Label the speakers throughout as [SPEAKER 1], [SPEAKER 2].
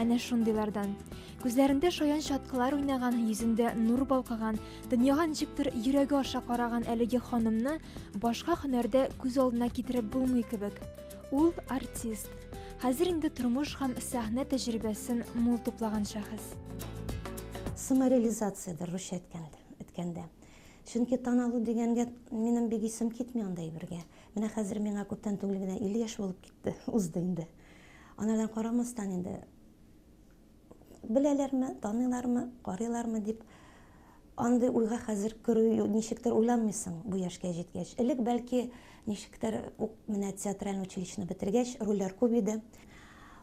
[SPEAKER 1] Әнә шундыйлардан. Күзләрендә шаян чаткылар уйнаган, йөзендә нур балкыган, дөньяга ничектер йөрәге аша караган әлеге ханымны башка һөнәрдә күз алдына китереп булмый кебек. Ул артист. Хәзер инде тормыш һәм сәхнә тәҗрибәсен мул туплаган шәхес. Самореализациядер,
[SPEAKER 2] русча әйткәндә. Чөнки таналу дигәнгә минем бик исем китми андый бергә. Менә хәзер миңа күптән түгел генә 50 яшь булып китте, узды инде. Анардан карамастан инде беләләрме, таныйлармы, карыйлармы дип андый уйга хәзер керү ничектер уйланмыйсың бу яшькә җиткәч. Элек бәлки ничектер ук менә театральный училищены бетергәч рольләр күп иде.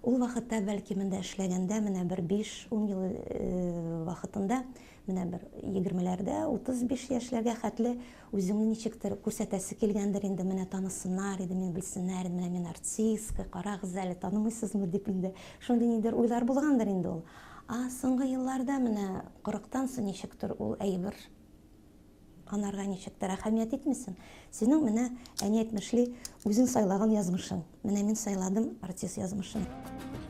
[SPEAKER 2] Ул вакытта бәлки монда эшләгәндә менә бер 5-10 ел э, вакытында менә бер 20-ләрдә, 35 яшьләргә хәтле Үзеңне ничектер күрсәтәсе килгәндер инде, менә танысыннар иде, мине белсеннәр иде, менә мин артистка, карагыз әле, танымыйсызмы дип инде. Шундый ниндидер уйлар булгандыр инде ул. А соңгы елларда менә кырыктан соң ничектер ул әйбер анарга ничектер әһәмият итмисең. Синең менә әни әйтмешли үзең сайлаган язмышың. Менә мин сайладым артист язмышын.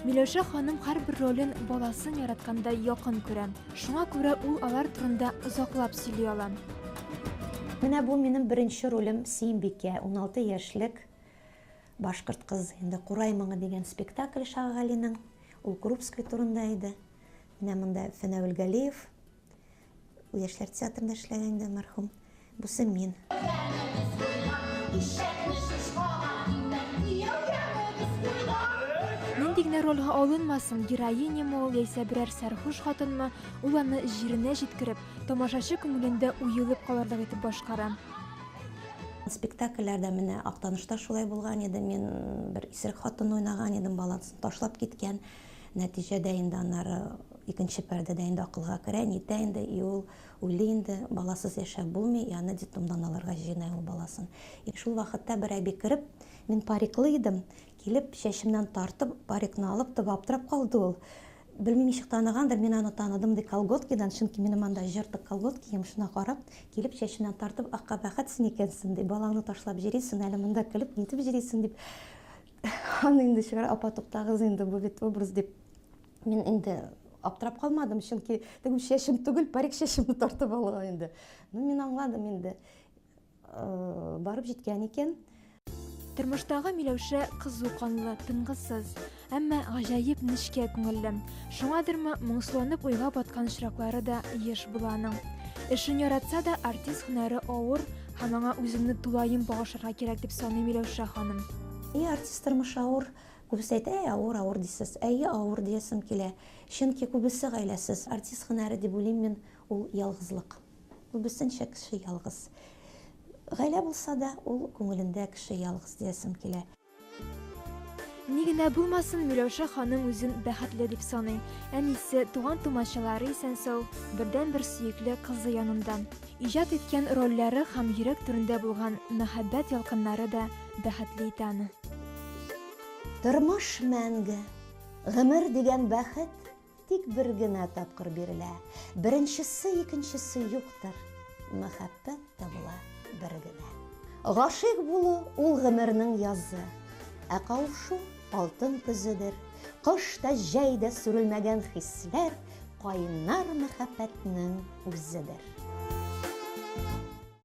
[SPEAKER 2] Миләүшә
[SPEAKER 1] ханым һәрбер ролен баласын яраткандай якын күрә. Шуңа күрә ул алар турында озаклап сөйли ала.
[SPEAKER 2] Менә бу минем беренче ролем Сөембикә, уналты яшьлек башкорт кыз. Инде Курай моңы дигән спектакль Шагагалинең, ул Крупской турында иде. Менә монда Фәнәвел Галиев, Яшьләр театрында эшләгән дә мәрхүм. Бусы мин.
[SPEAKER 1] Нинди генә рольгә алынмасын, героиняме ул яисә берәр сәрхуш хатынмы, ул аны җиренә җиткереп, тамашачы күңелендә уелып калырлык итеп башкара. Спектакльләрдә
[SPEAKER 2] менә Актанышта шулай булган иде. Мин бер исерек хатынны уйнаган идем, баласын ташлап киткән. Нәтиҗәдә инде аннары икенче пәрдәдә инде акылга керә, нитә инде, и ул үле инде, баласыз яшәп булмый, и аны детдомдан алырга җыена ул баласын. И шул вакытта бер әби кереп, мин париклы идем, килеп, чәчемнән тартып, парикны алып, тып аптырап калды ул. Белмим, ничек таныгандыр, мин аны таныдым, ди, колготкидан, чөнки минем анда җыртык колготкием, шуна карап, килеп, чәчемнән тартып, ах, кабәхәт син икәнсең, ди, балаңны ташлап җөрисең әле монда, көлеп, нитеп җөрисең, дип, Аны инде чыгар, апа, туктагыз инде, бу бит образ дип. Мин инде аптырап калмадым, чөнки теге чәчем түгел, парик чәчемне тартып алган инде. Ну, мин аңладым инде. Э, барып җиткән икән. Тормыштагы
[SPEAKER 1] Миләүшә кызу канлы, тынгысыз, әмма гаҗәеп нечкә күңелле. Шуңадырмы, моңсуланып уйга баткан очраклары да еш була аның. Эшен яратса да, артист һөнәре авыр, Һәм аңа үземне тулаем багышырга кирәк дип саныйм, Миләүшә ханым. И артист тормыш
[SPEAKER 2] авыр, күбесе әйтә, әй авыр, авыр дисез. Әйе, авыр диясем килә. Чөнки күбесе гаиләсез. Артист һөнәре дип уйлыйм мин, ул ялгызлык. Күбесенчә кеше ялгыз. Гаилә булса да, ул күңелендә кеше ялгыз диясем килә.
[SPEAKER 1] Ни генә булмасын, Миләүшә ханым үзен бәхетле дип саный. Әнисе, туган-тумачалары исән-сау, бердәнбер сөекле кызы янында. Иҗат иткән рольләре һәм йөрәк түрендә булган мәхәббәт ялкыннары да бәхетле итә аны. Тормыш
[SPEAKER 2] мәңге, гомер дигән бәхет Тик бер генә тапкыр бирелә. Беренчесе, икенчесе юктыр. Мәхәббәт табыла бер генә. Гашыйк булу, ул гомернең язы. Ә кавышу, алтын көзедер. Кыш та, җәй дә сүрелмәгән хисләр, Кайнар мәхәббәтнең үзедер.